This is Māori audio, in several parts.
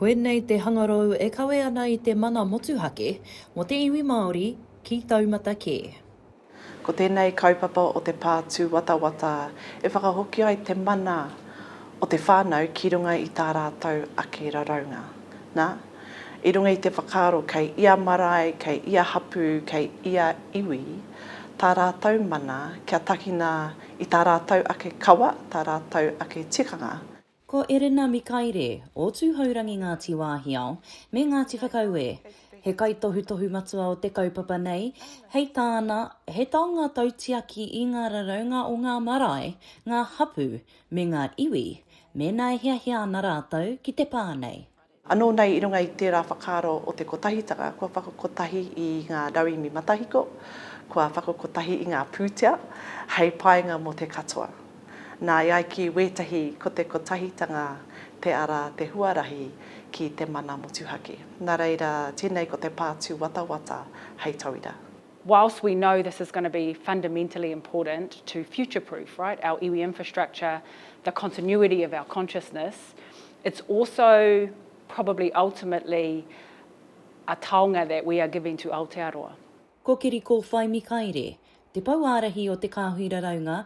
Koinei te hangarau e kawe ana i te mana motuhake mō te iwi Māori ki taumata kē. Ko tēnei kaupapa o te pā tūwatawata e whakahoki ai te mana o te whānau ki runga i tā rātou ake raraunga. Nā, i runga i te whakaaro kei ia marae, kei ia hapū, kei ia iwi tā rātou mana kia takina i tā rātou ake kawa, tā rātou ake tikanga, Ko Erena Mikaere, o Tūhourangi Ngāti Wāhiao, me Ngāti Whakaue, he kaitohutohu matua o te kaupapa nei, hei tāna, he taonga tautiaki i ngā raraunga o ngā marae, ngā hapū, me ngā iwi, mēnā e hiahia ana rātou ki te pā nei. Anō nei i runga i tērā whakaaro o te kotahitanga kua whakakotahi i ngā rauemi matahiko, kua whakakotahi i ngā pūtea hei painga mō te katoa. Nā, e ai ki wētahi ko te kotahitanga te ara, te huarahi ki te mana motuhake. Nā reira, tēnei ko te pātū watawata hei tauira. whilst we know this is going to be fundamentally important to future-proof, right, our iwi infrastructure, the continuity of our consciousness, it's also probably ultimately a taonga that we are giving to Aotearoa. Ko Kiri Kōwhai Mikaere, Te Pou Ārahi o Te Kāhui Raraunga,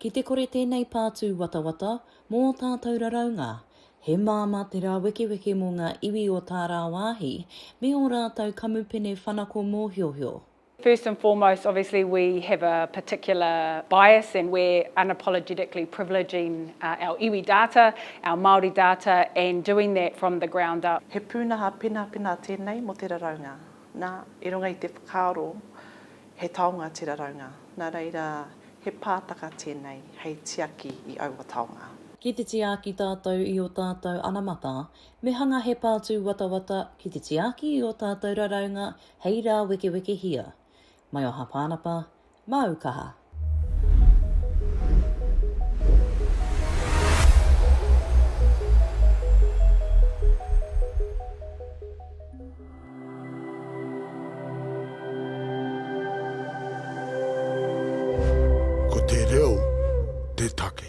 Ki te kore tēnei pātū watawata mō ō tātou raraunga, he māmā te rāwekeweke mō ngā iwi o tā rāwāhi me ō rātou kamupene whanako mōhiohio. First and foremost, obviously we have a particular bias and we're unapologetically privileging our iwi data, our Māori data and doing that from the ground up. He pūnaha penapena tēnei mō te raraunga, nā, i runga i te whakaaro He taonga te raraunga, nā reira he pātaka tēnei hei tiaki i aua taonga. Ki te tiaki tātou i ō tātou anamata, me hanga he pātūwatawata ki te tiaki i ō tātou raraunga hei rāwekewekehia. Mai o Hāpānapa, māu kaha. Ko te reo te take.